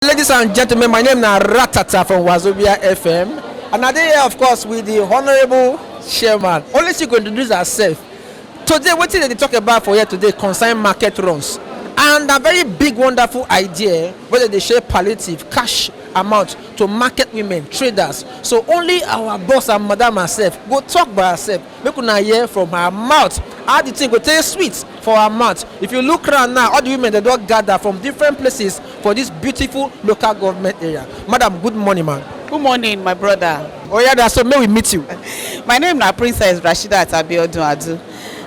ladies and gentlemen, my name na Ratata from Wazobia FM, and I dey here, of course, with the honourable chairman. Only she go introduce herself. Today, wetin dem dey talk about for here today concern market runs, and na very big, wonderful idea wey dem dey share palliative cash amount to market women traders. So only our boss and madam herself go talk by herself Make una hear from her mouth how the thing go take sweet for her mouth. If you look round now, all the women dem don gather from different places for this beautiful local government area. Madam, good morning ma. Good morning my brother. Oya na so make we meet you. My name na Princess Rasheedat Abiodun Adu.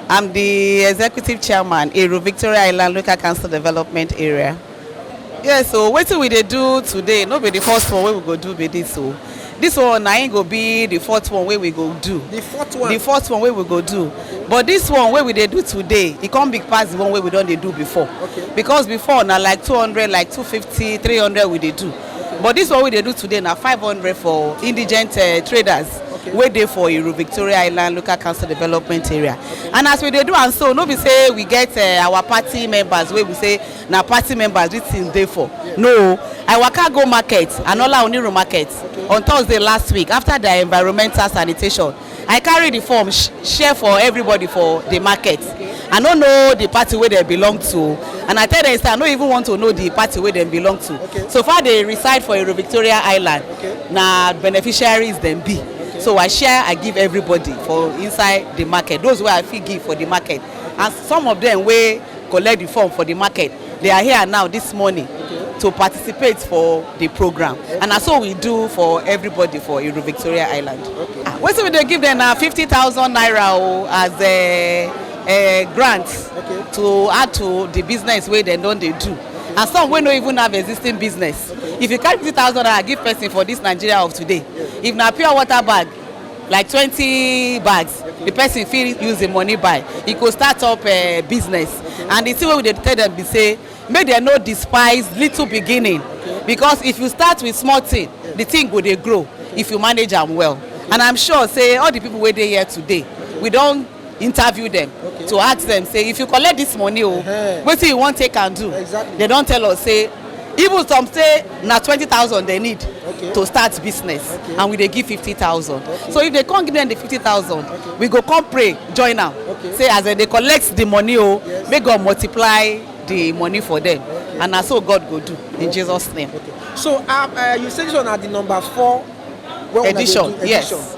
I'm the executive chairman Ero Victoria Island Local Council Development Area. yes o wetin we dey do today no be the first one wey we go do be this o this one na im go be the fourth one wey we go do the fourth one the fourth one wey we go do but this one wey we dey do today e come big pass the one wey we don dey do before Okay. because before na like two hundred like two fifty three hundred we dey do but this one wey we dey do today na five hundred for indigent uh, traders Okay. wey dey for iru victoria island local council development area and as we dey do am so no be say we get uh, our party members wey be say na party members dis thing dey for no i waka go market anola oniru market on thursday last week after their environmental sanitation i carry the form sh- share for everybody for the market i no know the party wey dem belong to and i tell them say i no even want to know the party wey dem belong to so far they reside for ero victoria island na beneficiaries dem be so i share i give everybody for inside the market those wey i fit give for the market and some of them wey collect the form for the market they are here now this morning to participate for the program and na so we do for everybody for Iru Victoria Island Ah, wetin we dey give them na fifty thousand naira o as a, a grant to add to the business wey dem don dey do and some wey no even have existing business if you carry fifty thousand naira give person for this Nigeria of today if na pure water bag like twenty bags the person fit use the money buy e go start up uh, business and the thing wey we dey tell them be say make dem no despise little beginning because if you start with small thing the thing go dey grow if you manage am well and i'm sure say all the people wey dey here today we don interview dem okay. to ask dem say if you collect dis money o oh, uh-huh. wetin you wan take am do exactly. dem don tell us say even some say na twenty thousand dem need okay. to start business okay. and we dey give fifty thousand okay. so if they come give them the fifty thousand okay. we go come pray join am okay. say as dem dey collect the money o oh, yes. make god multiply the money for them okay. and na so god go do in okay. jesus name. Okay. so uh, uh, you say this one na the number four edition, edition yes.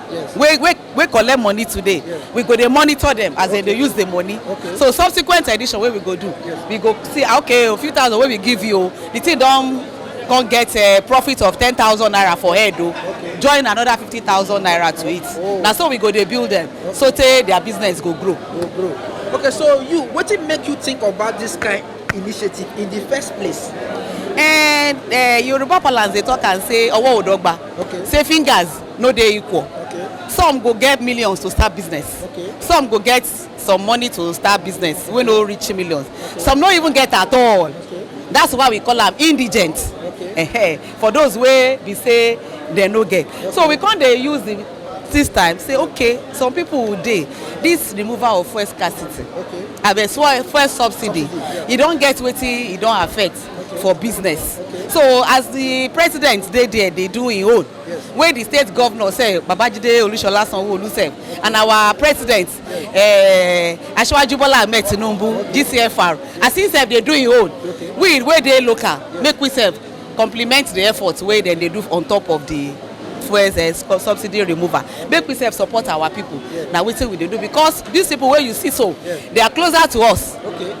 Yes. wey wey wey collect money today Yes. we go dey monitor them as they dey use the money Okay. so subsequent edition wey we go do Yes. we go see ah, okay o few thousand wey we give you o the thing don come get uh, profit of ten thousand naira for head o Okay. join another fifty thousand naira to it Oh. na so we go dey build them so tey their business go grow. go grow okay so you wetin make you think about this kind initiative in the first place and uh, yoruba parlance dey talk am say ọwọ́ ò dọ́gba Okay. say fingers no dey equal okay some go get millions to start business Okay. some go get some money to start business wey no reach millions some no even get at all Okay. that's why we call am indigent Okay. Ehe, for those wey be say dem no get so we come dey use the this time say okay some people dey this removal of fuel scarcity Okay. abeg fuel fuel subsidy e don get wetin e don affect for business so as the president dey there dey do im own wey di state govnor sef babajide olushola sanwo-olu sef and our president eh, asiwaju bola ahmed tinubu gcfr as he sef dey do im own we wey dey local make we sef compliment di effort wey dem dey do on top of di fuel eh, sub- subsidy removal make we sef support our pipo na wetin we dey do because dis pipo wey you see so they are closer to us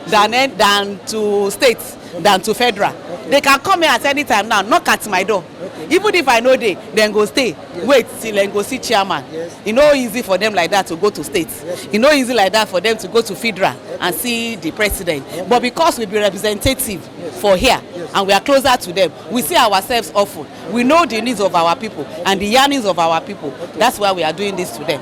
than eh, than to state than to federal they can come here at any time now knock at my door even if i no dey dem go stay wait till dem go see chairman e no easy for them like that to go to state e no easy like that for them to go to federal and see the president but because we be representative for here and we are closer to them we see ourselves often we know the needs of our people and the yearnings of our people that's why we are doing this to them.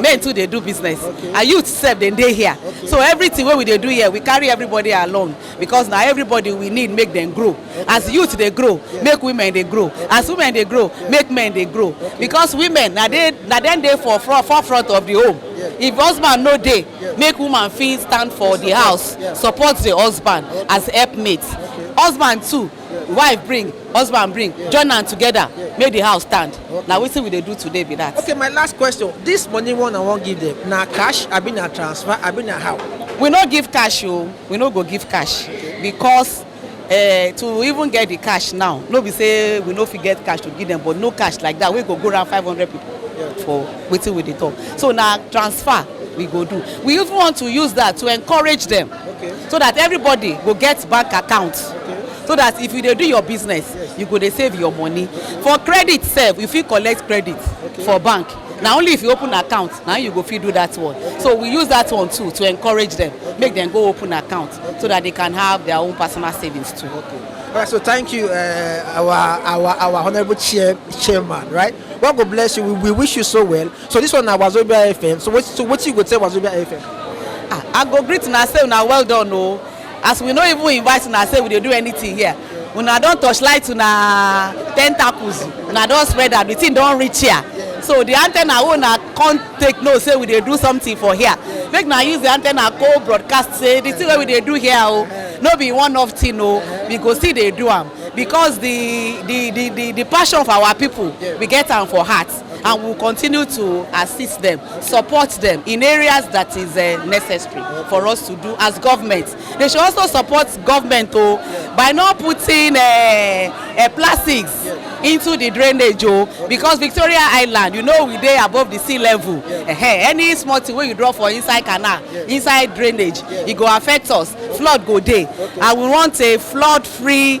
men too dey do business and youth sef dem dey here so everything wey we dey do here we carry everybody along because na everybody we need make dem grow as youth dey grow make women dey grow as women dey grow make men dey grow because women na dey na dem dey for front for front of the home if husband no dey make woman fit stand for the house support the husband as helpmate husband too wife bring husband bring join am together make the house stand na wetin we dey do today be that. okay my last question this money one i wan give them na cash abi na transfer abi na how. we no give cash o we no go give cash because uh, to even get the cash now no be say we no fit get cash to give them but no cash like that wey go go around five hundred people for wetin we dey talk so na transfer we go do we even want to use that to encourage them okay. so that everybody go get bank account okay. so that if you dey do your business yes. you go dey save your money okay. for credit sef you fit collect credit okay. for bank okay. na only if you open account na you go fit do that one okay. so we use that one too to encourage them okay. make them go open account okay. so that they can have their own personal savings too. Okay. All right, so thank you, uh, our our our honourable chair, chairman, right? God will bless you. We, we wish you so well. So this one na Wazobia FM. So what so what you go tell Wazobia FM? Ah, I go greet una say una well done o. As we no even invite una say we dey do anything here. Una don torchlight una tentacles. Una don spread am. The thing don reach here. So the antenna wey una come take know say we dey do something for here. Make una use the antenna go broadcast say the thing wey we dey do here o. No be one off thing o. We go still dey do am because the the the the the passion for our people we get am for heart. and we will continue to assist them, support them in areas that is uh, necessary for us to do as government. They should also support government oh, by not putting uh, uh, plastics into the drainage oh, because Victoria Island, you know, we dey above the sea level. Uh -huh. Any small thing wey you draw for inside canal, inside drainage, e go affect us. Flood go dey, and we want a flood-free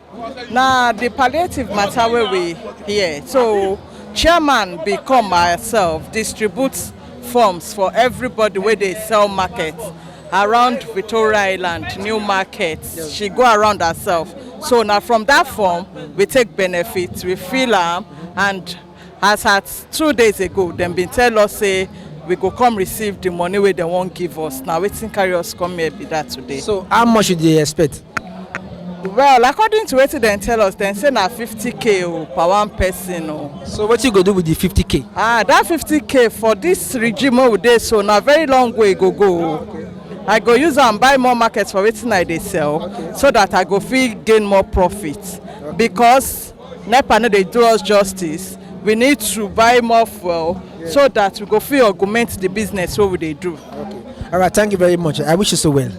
na the palliative matter wey we hear so chairman bin come myself distribute forms for everybody wey dey sell market around victoria island new market she go around herself so na from that form we take benefit we fill am and As at two days ago, dem bin tell us say we go come receive the money wey dem wan give us. Na wetin carry us come here be that today. So how much you dey expect? Well, according to wetin dem tell us, dem say na 50k o per one person o. So wetin you go do with the 50k? Ah, that 50k for this regime wey we dey so na very long way e go go o. I go use am buy more market for wetin I dey sell so that I go fit gain more profit because nepa no dey do us justice we need to buy more fuel yeah. so that we go fit augment the business wey we dey do. Okay. all right thank you very much i wish you so well.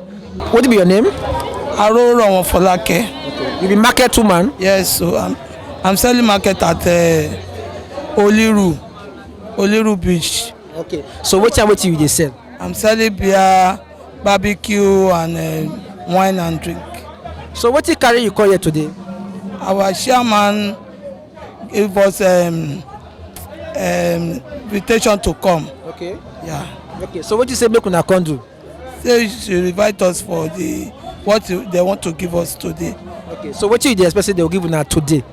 what be your name. arorowo folake. Okay. you be market woman. yes so i'm i'm selling market at uh, oliru oliru beach. okay so wetin and wetin you dey sell. i'm selling beer. barbecue and uh, wine and drink. So what you carry you call here today? Our chairman gave us um, um, invitation to come. Okay. Yeah. Okay. So what you say make una come do? Say she invite us for the what they want to give us today. Okay. So what you dey expect say they will give una today?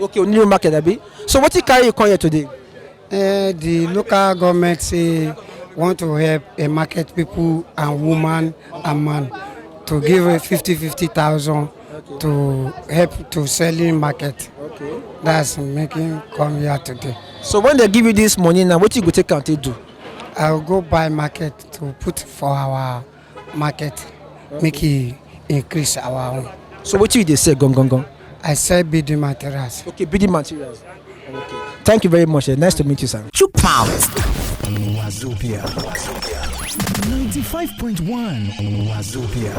okay new market abi so wetin carry you come here today. Uh, the local government say want to help uh, market people and woman and man to give a 50 50 thousand okay. to help to selling market okay. that's making come here today so when they give you this money now what you go take am take do i will go buy market to put for our market make e increase our own. so wetin you dey sell gangan. i sell building materials. okay building materials. okay thank you very much eh? nice to meet you sir. chook mouth. wazobia ninety five point one wazobia.